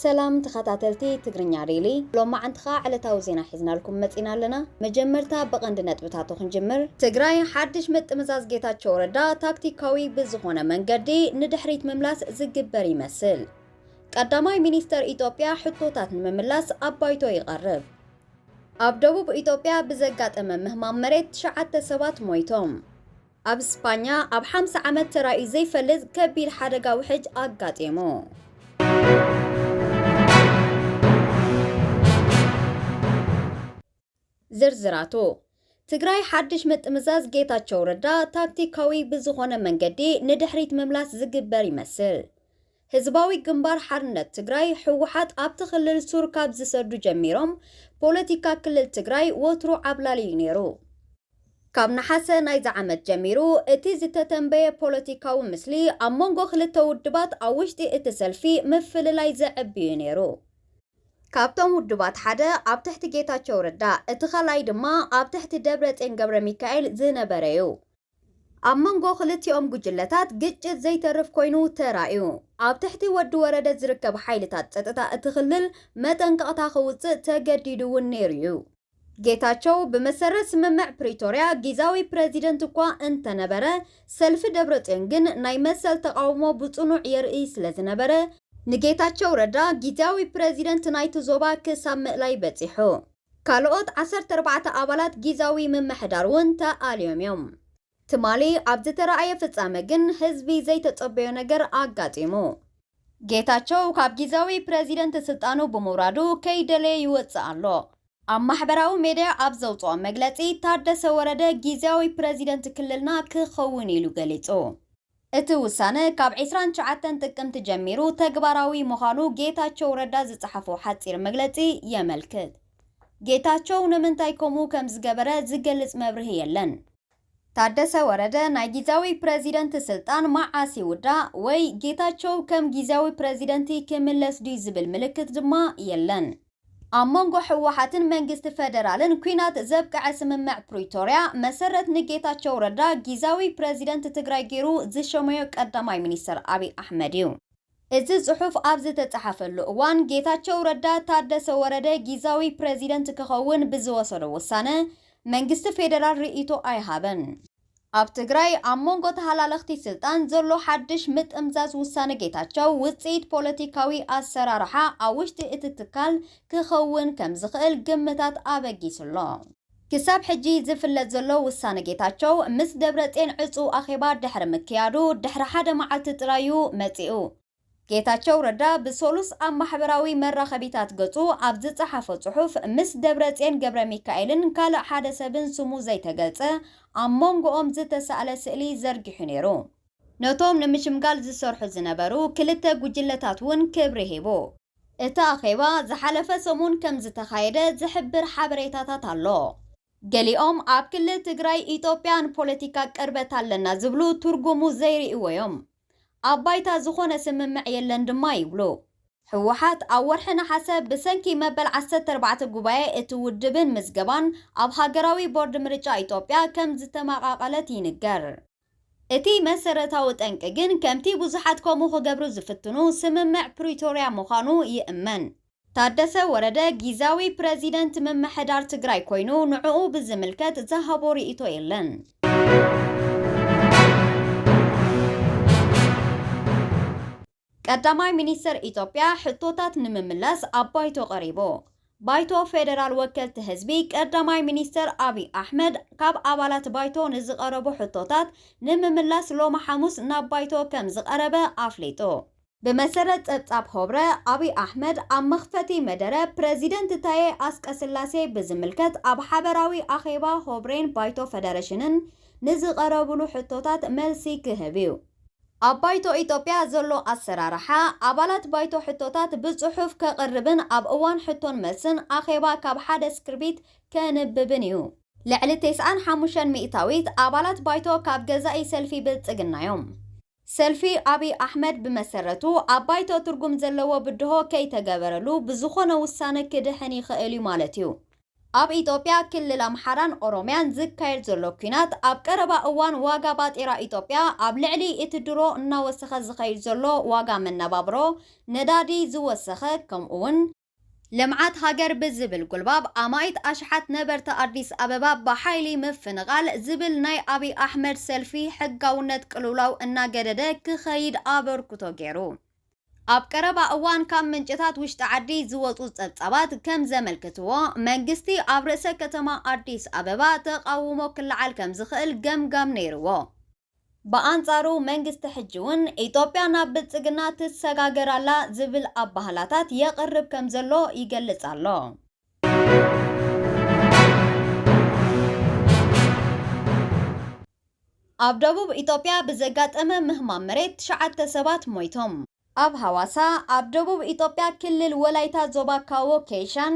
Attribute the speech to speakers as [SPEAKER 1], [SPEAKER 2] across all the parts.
[SPEAKER 1] ሰላም ተኸታተልቲ ትግርኛ ዴሊ ሎማዓንቲ ከዓ ዕለታዊ ዜና ሒዝናልኩም መፂና ኣለና። መጀመርታ ብቐንዲ ነጥብታቱ ክንጅምር። ትግራይ ሓድሽ ምጥምዛዝ ጌታቸው ረዳ ታክቲካዊ ብዝኾነ መንገዲ ንድሕሪት ምምላስ ዝግበር ይመስል። ቀዳማይ ሚኒስተር ኢትዮጵያ ሕቶታት ንምምላስ ኣብ ባይቶ ይቐርብ። ኣብ ደቡብ ኢትዮጵያ ብዘጋጠመ ምህማም መሬት ትሽዓተ ሰባት ሞይቶም። ኣብ ስጳኛ ኣብ ሓምሳ ዓመት ተራእዩ ዘይፈልጥ ከቢድ ሓደጋ ውሕጅ ኣጋጢሙ። ዝርዝራቱ፣ ትግራይ ሓድሽ ምጥምዛዝ ጌታቸው ረዳ ታክቲካዊ ብዝኾነ መንገዲ ንድሕሪት ምምላስ ዝግበር ይመስል። ህዝባዊ ግንባር ሓርነት ትግራይ፣ ህወሓት፣ ኣብቲ ክልል ሱር ካብ ዝሰዱ ጀሚሮም ፖለቲካ ክልል ትግራይ ወትሩ ዓብላሊ እዩ ነይሩ። ካብ ነሓሰ ናይዚ ዓመት ጀሚሩ እቲ ዝተተንበየ ፖለቲካዊ ምስሊ ኣብ መንጎ ክልተ ውድባት ኣብ ውሽጢ እቲ ሰልፊ ምፍልላይ ዘዕቢ እዩ ነይሩ። ካብቶም ውድባት ሓደ ኣብ ትሕቲ ጌታቸው ረዳ እቲ ካልኣይ ድማ ኣብ ትሕቲ ደብረጼን ገብረሚካኤል ዝነበረ እዩ። ኣብ መንጎ ክልቲኦም ጉጅለታት ግጭት ዘይተርፍ ኮይኑ ተራእዩ። ኣብ ትሕቲ ወዲ ወረደ ዝርከብ ሓይልታት ፀጥታ እቲ ክልል መጠንቀቕታ ከውፅእ ተገዲዱ እውን ነይሩ እዩ። ጌታቸው ብመሰረት ስምምዕ ፕሪቶርያ ጊዛዊ ፕረዚደንት እኳ እንተነበረ ሰልፊ ደብረፅዮን ግን ናይ መሰል ተቓውሞ ብፅኑዕ የርእይ ስለዝነበረ፣ ንጌታቸው ረዳ ጊዚያዊ ፕረዚደንት ናይቲ ዞባ ክሳብ ምእላይ በፂሑ። ካልኦት ዓሰርተ ኣርባዕተ ኣባላት ጊዛዊ ምምሕዳር እውን ተኣልዮም እዮም። ትማሊ ኣብ ዝተራእየ ፍጻመ ግን ህዝቢ ዘይተጸበዮ ነገር ኣጋጢሙ። ጌታቸው ካብ ጊዛዊ ፕረዚደንት ስልጣኑ ብምውራዱ ከይደለየ ይወጽእ ኣሎ። ኣብ ማሕበራዊ ሜድያ ኣብ ዘውጽኦ መግለጺ፣ ታደሰ ወረደ ጊዚያዊ ፕረዚደንት ክልልና ክኸውን ኢሉ ገሊጹ። እቲ ውሳነ ካብ ዕስራን ትሽዓተን ጥቅምቲ ጀሚሩ ተግባራዊ ምዃኑ ጌታቸው ረዳ ዝፀሓፎ ሓፂር መግለፂ የመልክት። ጌታቸው ንምንታይ ከምኡ ከምዝገበረ ዝገልፅ መብርሂ የለን። ታደሰ ወረደ ናይ ጊዚያዊ ፕረዚደንት ስልጣን መዓስ ይውዳእ ወይ ጌታቸው ከም ጊዚያዊ ፕረዚደንቲ ክምለስ ድዩ ዝብል ምልክት ድማ የለን። ኣብ መንጎ ህወሓትን መንግስቲ ፌደራልን ኲናት ዘብቀዐ ስምምዕ ፕሪቶርያ መሰረት ንጌታቸው ረዳ ጊዛዊ ፕረዚደንት ትግራይ ገይሩ ዝሸመዮ ቀዳማይ ሚኒስትር ኣብይ ኣሕመድ እዩ። እዚ ፅሑፍ ኣብ ዝተፀሓፈሉ እዋን ጌታቸው ረዳ ታደሰ ወረደ ጊዛዊ ፕረዚደንት ክኸውን ብዝወሰዶ ውሳነ መንግስቲ ፌደራል ርእይቶ ኣይሃበን። ኣብ ትግራይ ኣብ መንጎ ተሃላለኽቲ ስልጣን ዘሎ ሓድሽ ምጥምዛዝ ውሳነ ጌታቸው ውፅኢት ፖለቲካዊ ኣሰራርሓ ኣብ ውሽጢ እቲ ትካል ክኸውን ከምዝኽእል ግምታት ኣበጊሱ ኣሎ። ክሳብ ሕጂ ዝፍለጥ ዘሎ ውሳነ ጌታቸው ምስ ደብረጼን ዕፁው ኣኼባ ድሕሪ ምክያዱ ድሕሪ ሓደ መዓልቲ ጥራይ እዩ መፂኡ። ጌታቸው ረዳ ብሰሉስ ኣብ ማሕበራዊ መራኸቢታት ገፁ ኣብ ዝፀሓፎ ፅሑፍ ምስ ደብረፅዮን ገብረሚካኤልን ካልእ ሓደ ሰብን ስሙ ዘይተገልፀ ኣብ ሞንጎኦም ዝተሳእለ ስእሊ ዘርጊሑ ነይሩ። ነቶም ንምሽምጋል ዝሰርሑ ዝነበሩ ክልተ ጉጅለታት እውን ክብሪ ሂቡ። እቲ ኣኼባ ዝሓለፈ ሰሙን ከምዝተኻየደ ዝሕብር ሓበሬታታት ኣሎ። ገሊኦም ኣብ ክልል ትግራይ ኢትዮጵያ ንፖለቲካ ቅርበት ኣለና ዝብሉ ትርጉሙ ዘይርእይዎ እዮም። ኣብ ባይታ ዝኾነ ስምምዕ የለን ድማ ይብሉ። ህወሓት ኣብ ወርሒ ነሓሰ ብሰንኪ መበል ዓሰርተ ኣርባዕተ ጉባኤ እቲ ውድብን ምዝገባን ኣብ ሃገራዊ ቦርድ ምርጫ ኢትዮጵያ ከም ዝተመቓቐለት ይንገር። እቲ መሰረታዊ ጠንቂ ግን ከምቲ ብዙሓት ከምኡ ክገብሩ ዝፍትኑ ስምምዕ ፕሪቶርያ ምዃኑ ይእመን። ታደሰ ወረደ ጊዛዊ ፕረዚደንት ምምሕዳር ትግራይ ኮይኑ ንዕኡ ብዝምልከት ዝሃቦ ሪኢቶ የለን። ቀዳማይ ሚኒስትር ኢትዮጵያ ሕቶታት ንምምላስ ኣብ ባይቶ ቀሪቡ። ባይቶ ፌደራል ወከልቲ ህዝቢ ቀዳማይ ሚኒስትር ኣብይ ኣሕመድ ካብ ኣባላት ባይቶ ንዝቐረቡ ሕቶታት ንምምላስ ሎሚ ሓሙስ ናብ ባይቶ ከምዝቐረበ ኣፍሊጡ። ብመሰረት ጸብጻብ ሆብረ፣ ኣብይ ኣሕመድ ኣብ መኽፈቲ መደረ ፕረዚደንት ታዬ ኣስቀስላሴ ብዝምልከት ኣብ ሓበራዊ ኣኼባ ሆብሬን ባይቶ ፈደረሽንን ንዝቐረቡሉ ሕቶታት መልሲ ክህብ'ዩ። ኣብ ባይቶ ኢትዮጵያ ዘሎ ኣሰራርሓ፣ ኣባላት ባይቶ ሕቶታት ብጽሑፍ ከቕርብን ኣብ እዋን ሕቶን መልስን ኣኼባ ካብ ሓደ ስክርቢት ከንብብን እዩ። ልዕሊ ቴስዓን ሓሙሽተን ሚእታዊት ኣባላት ባይቶ ካብ ገዛኢ ሰልፊ ብልጽግና'ዮም። ሰልፊ ኣብይ ኣሕመድ ብመሰረቱ ኣብ ባይቶ ትርጉም ዘለዎ ብድሆ ከይተገበረሉ ብዝኾነ ውሳነ ክድሕን ይኽእል እዩ ማለት እዩ። ኣብ ኢትዮጵያ ክልል ኣምሓራን ኦሮምያን ዝካየድ ዘሎ ኲናት ኣብ ቀረባ እዋን ዋጋ ባጤራ ኢትዮጵያ ኣብ ልዕሊ እቲ ድሮ እናወሰኸ ዝኸይድ ዘሎ ዋጋ መነባብሮ፣ ነዳዲ፣ ዝወሰኸ ከምኡ'ውን፣ ልምዓት ሃገር ብዝብል ጉልባብ ኣማኢት ኣሽሓት ነበርቲ ኣዲስ ኣበባ ብሓይሊ ምፍንቓል ዝብል ናይ ኣብይ ኣሕመድ ሰልፊ ሕጋውነት ቅልውላው እናገደደ ክኸይድ ኣበርክቶ ገይሩ። ኣብ ቀረባ እዋን ካብ ምንጭታት ውሽጢ ዓዲ ዝወፁ ፀብፃባት ከም ዘመልክትዎ መንግስቲ ኣብ ርእሰ ከተማ ኣዲስ ኣበባ ተቓውሞ ክለዓል ከም ዝኽእል ገምጋም ነይርዎ። ብኣንጻሩ መንግስቲ ሕጂ'ውን ኢትዮጵያ ናብ ብልጽግና ትሰጋገር ኣላ ዝብል ኣባህላታት የቕርብ ከም ዘሎ ይገልጽ ኣሎ። ኣብ ደቡብ ኢትዮጵያ ብዘጋጠመ ምህማም መሬት ትሽዓተ ሰባት ሞይቶም። ኣብ ሃዋሳ፣ ኣብ ደቡብ ኢትዮጵያ ክልል ወላይታ ዞባ ካዎ ኬይሻን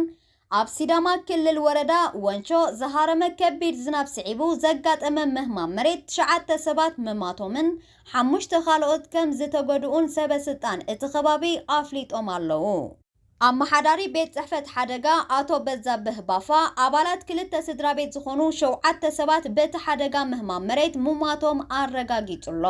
[SPEAKER 1] ኣብ ሲዳማ ክልል ወረዳ ወንቾ ዝሃረመ ከቢድ ዝናብ ስዒቡ ዘጋጠመ ምህማም መሬት ትሽዓተ ሰባት ምማቶምን ሓሙሽተ ካልኦት ከምዝተጎድኡን ሰበ ስልጣን እቲ ከባቢ ኣፍሊጦም ኣለዉ። ኣመሓዳሪ ቤት ፅሕፈት ሓደጋ ኣቶ በዛብህ ባፋ፣ ኣባላት ክልተ ስድራቤት ዝኾኑ ሸውዓተ ሰባት በቲ ሓደጋ ምህማም መሬት ምሟቶም ኣረጋጊፁ'ሎ።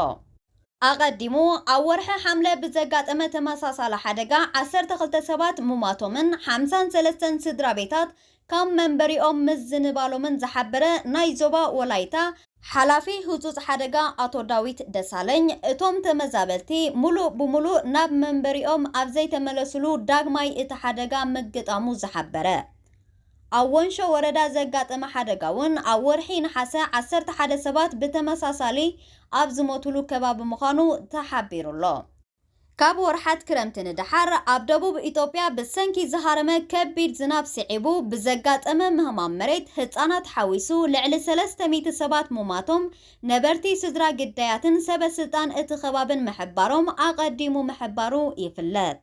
[SPEAKER 1] ኣቐዲሙ ኣብ ወርሒ ሓምለ ብዘጋጠመ ተመሳሳሊ ሓደጋ ዓሰርተ ክልተ ሰባት ምሟቶምን ሓምሳን ሰለስተን ስድራቤታት ካብ መንበሪኦም ምዝንባሎምን ዝሓበረ ናይ ዞባ ወላይታ ሓላፊ ህጹጽ ሓደጋ ኣቶ ዳዊት ደሳለኝ፣ እቶም ተመዛበልቲ ምሉእ ብምሉእ ናብ መንበሪኦም ኣብ ዘይተመለሱሉ ዳግማይ እቲ ሓደጋ ምግጣሙ ዝሓበረ ኣብ ወንሾ ወረዳ ዘጋጠመ ሓደጋ'ውን ኣብ ወርሒ ነሓሰ ዓሰርተ ሓደ ሰባት ብተመሳሳሊ ኣብ ዝሞቱሉ ከባቢ ምዃኑ ተሓቢሩ'ሎ። ካብ ወርሓት ክረምቲ ንደሓር ኣብ ደቡብ ኢትዮጵያ ብሰንኪ ዝሃረመ ከቢድ ዝናብ ስዒቡ ብዘጋጠመ ምህማም መሬት ህፃናት ሓዊሱ ልዕሊ ሰለስተ ሚእቲ ሰባት ሙማቶም ነበርቲ ስድራ ግዳያትን ሰበ ስልጣን እቲ ከባብን ምሕባሮም ኣቐዲሙ ምሕባሩ ይፍለጥ።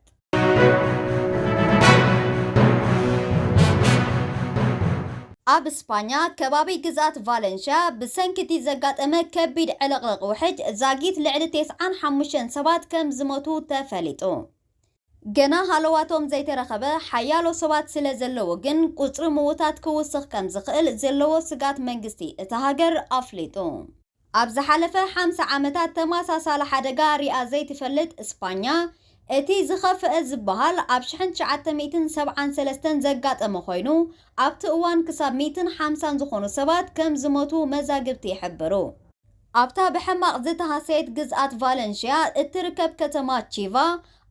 [SPEAKER 1] ኣብ ስፓኛ ከባቢ ግዝኣት ቫለንሽያ ብሰንኪ'ቲ ዘጋጠመ ከቢድ ዕልቕልቕ ውሕጅ ዛጊት ልዕሊ ቴስዓን ሓሙሽተን ሰባት ከም ዝሞቱ ተፈሊጡ። ገና ሃለዋቶም ዘይተረኸበ ሓያሎ ሰባት ስለ ዘለዉ ግን ቁጽሪ ምዉታት ክውስኽ ከም ዝኽእል ዘለዎ ስግኣት መንግስቲ እታ ሃገር ኣፍሊጡ። ኣብ ዝሓለፈ ሓምሳ ዓመታት ተመሳሳሊ ሓደጋ ሪኣ ዘይትፈልጥ እስጳኛ፣ እቲ ዝኸፍአ ዝበሃል ኣብ ሽሕን ትሽዓተ ሚእትን ሰብዓን ሰለስተን ዘጋጠመ ኮይኑ፣ ኣብቲ እዋን ክሳብ ሚእትን ሓምሳን ዝኾኑ ሰባት ከም ዝሞቱ መዛግብቲ ይሕብሩ። ኣብታ ብሕማቕ ዝተሃሰየት ግዝኣት ቫለንሽያ እትርከብ ከተማ ቺቫ፣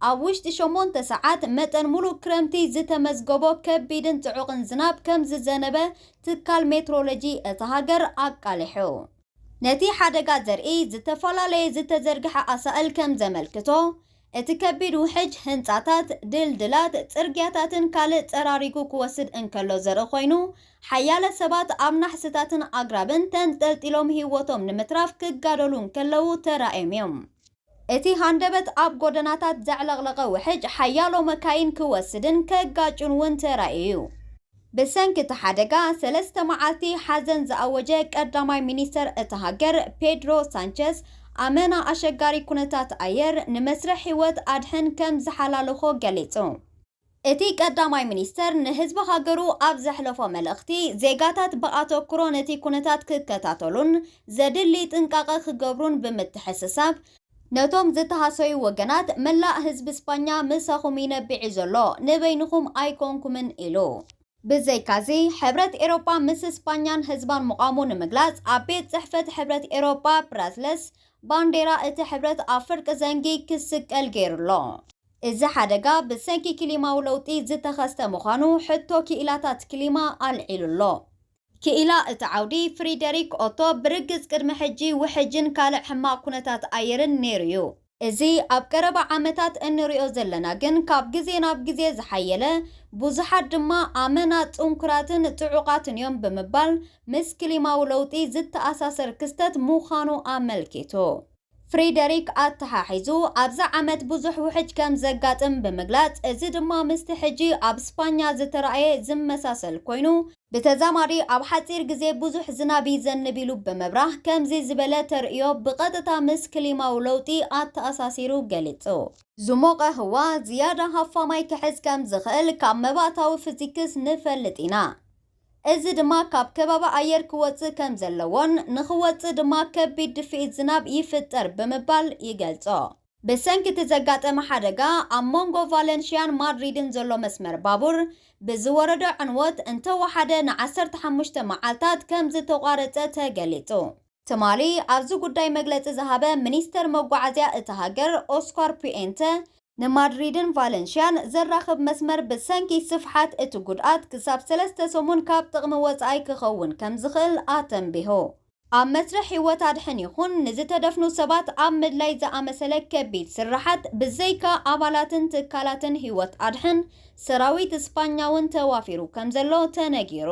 [SPEAKER 1] ኣብ ውሽጢ ሸሞንተ ሰዓት፣ መጠን ሙሉእ ክረምቲ ዝተመዝገቦ ከቢድን ጽዑቕን ዝናብ ከምዝዘነበ ትካል ሜትሮሎጂ እታ ሃገር ኣቃሊሑ። ነቲ ሓደጋ ዘርኢ ዝተፈላለየ ዝተዘርግሐ ኣሳእል ከምዘመልክቶ፣ እቲ ከቢድ ውሕጅ ህንጻታት፣ ድልድላት፣ ጽርግያታትን ካልእ ጸራሪጉ ክወስድ እንከሎ ዘርኢ ኮይኑ፣ ሓያለ ሰባት ኣብ ናሕስታትን ኣግራብን ተንጠልጢሎም ህይወቶም ንምትራፍ ክጋደሉ እንከለዉ ተራእዮም እዮም። እቲ ሃንደበት ኣብ ጎደናታት ዘዕለቕለቐ ውሕጅ ሓያሎ መካይን ክወስድን ከጋጩን እውን ተራእዩ'ዩ። ብሰንኪ እቲ ሓደጋ ሰለስተ መዓልቲ ሓዘን ዝኣወጀ ቀዳማይ ሚኒስተር እታ ሃገር ፔድሮ ሳንቸዝ፣ ኣመና ኣሸጋሪ ኩነታት ኣየር ንመስርሕ ህይወት ኣድሕን ከም ዝሓላለኾ ገሊጹ። እቲ ቀዳማይ ሚኒስተር ንህዝቢ ሃገሩ ኣብ ዘሕለፎ መልእኽቲ፣ ዜጋታት ብኣተኩሮ ነቲ ኩነታት ክከታተሉን ዘድሊ ጥንቃቐ ክገብሩን ብምትሕስሳብ፣ ነቶም ዝተሃሰዩ ወገናት፣ መላእ ህዝቢ ስጳኛ ምሳኹም ይነብዕ'ዩ ዘሎ፣ ንበይንኹም ኣይኮንኩምን ኢሉ። ብዘይካ'ዚ፣ ሕብረት ኤሮጳ ምስ ስጳኛን ህዝባን ምቛሙ ንምግላጽ፣ ኣብ ቤት ጽሕፈት ሕብረት ኤሮጳ ብራስለስ፣ ባንዴራ እቲ ሕብረት ኣብ ፍርቂ ዘንጊ ክስቀል ገይሩ'ሎ። እዚ ሓደጋ ብሰንኪ ክሊማዊ ለውጢ ዝተኸስተ ምዃኑ ሕቶ ክኢላታት ክሊማ ኣልዒሉ ኣሎ። ክኢላ እቲ ዓውዲ ፍሪደሪክ ኦቶ፣ ብርግጽ ቅድሚ ሕጂ ውሕጅን ካልእ ሕማቕ ኩነታት ኣየርን ነይሩ'ዩ። እዚ ኣብ ቀረባ ዓመታት እንርእዮ ዘለና ግን ካብ ግዜ ናብ ግዜ ዝሓየለ፣ ብዙሓት ድማ ኣመና ጽንኩራትን ጽዑቓትን'ዮም ብምባል ምስ ክሊማዊ ለውጢ ዝተኣሳሰር ክስተት ምዃኑ ኣመልኪቱ። ፍሬደሪክ ኣተሓሒዙ ኣብዚ ዓመት ብዙሕ ውሕጅ ከም ዘጋጥም ብምግላጽ፣ እዚ ድማ ምስቲ ሕጂ ኣብ ስፓኛ ዝተራእየ ዝመሳሰል ኮይኑ፣ ብተዛማዲ ኣብ ሓጺር ግዜ ብዙሕ ዝናብ ይዘንብ ኢሉ ብምብራህ፣ ከምዚ ዝበለ ተርእዮ ብቐጥታ ምስ ክሊማዊ ለውጢ ኣተኣሳሲሩ ገሊጹ። ዝሞቐ ህዋ ዝያዳ ሃፋማይ ክሕዝ ከም ዝኽእል ካብ መባእታዊ ፍዚክስ ንፈልጥ ኢና። እዚ ድማ ካብ ከበባ ኣየር ክወጽእ ከም ዘለዎን ንኽወጽእ ድማ ከቢድ ድፍኢት ዝናብ ይፍጠር ብምባል ይገልጾ። ብሰንኪ እቲ ዘጋጠመ ሓደጋ ኣብ መንጎ ቫለንሽያን ማድሪድን ዘሎ መስመር ባቡር ብዝወረደ ዕንወት እንተወሓደ ንዓሰርተ ሓሙሽተ መዓልታት ከም ዝተቋረጸ ተገሊጹ። ትማሊ ኣብዚ ጉዳይ መግለጺ ዝሃበ ሚኒስተር መጓዓዝያ እታ ሃገር ኦስኳር ፑኤንተ፣ ንማድሪድን ቫለንሽያን ዘራኽብ መስመር ብሰንኪ ስፍሓት እቲ ጉድኣት ክሳብ ሰለስተ ሰሙን ካብ ጥቕሚ ወጻኢ ክኸውን ከምዝኽእል ኣተንቢሁ። ኣብ መስርሕ ህይወት ኣድሕን ይኹን ንዝተደፍኑ ሰባት ኣብ ምድላይ ዝኣመሰለ ከቢድ ስርሓት ብዘይካ ኣባላትን ትካላትን ህይወት ኣድሕን ሰራዊት ስጳኛ'ውን ተዋፊሩ ከምዘሎ ተነጊሩ።